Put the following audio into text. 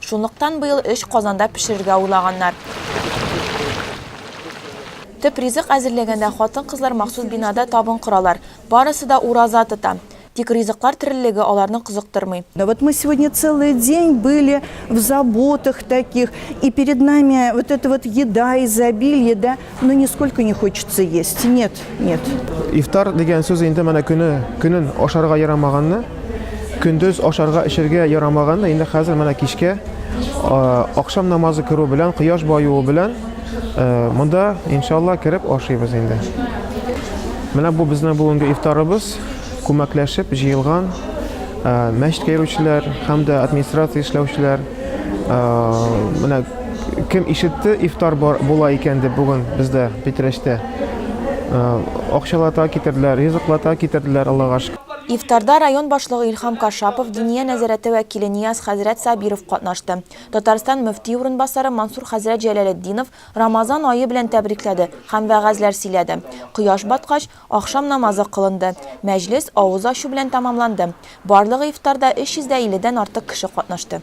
Шунлыктан быел өч казанда пешерергә уйлаганнар. Төп ризык әзерләгәндә хатын-кызлар махсус бинада табын коралар. Барысы да ураза тота. Тик ризыклар тереллеге аларны кызыктырмый. Да вот мы сегодня целый день были в заботах таких, и перед нами вот эта вот еда, изобилие, да. Ну нисколько не хочется есть. Нет, нет. Ифтар дигән сүз инде менә көне көнен ашарга ярамаганны, көндез ашарга эчәргә ярамаганны инде хәзер менә кичкә акшам намазы керү белән, кояш баюы белән монда иншалла кереп ашыйбыз инде. Менә бу безнең бүгенге ифтарыбыз, күмәкләшеп җыелган мәчеткә йөрүчеләр һәм дә администрация эшләүчеләр менә Кем ишетте, ифтар бар була икән дип бүген бездә Питрәчтә. Акчалата китерделәр, ризыклата китерделәр, Аллага шөкер. Ифтарда район башлыгы Илһам Кашапов, Диния нәзарәте вәкиле Нияз хәзрәт Сабиров катнашты. Татарстан мөфти урынбасары Мансур хәзрәт Җәләлетдинов Рамазан ае белән тәбрикләде һәм вәгазьләр сөйләде. Кояш баткач, ахшам намазы кылынды. Мәҗлес авыз ачу белән тәмамланды. Барлыгы ифтарда 350 дән артык кеше катнашты.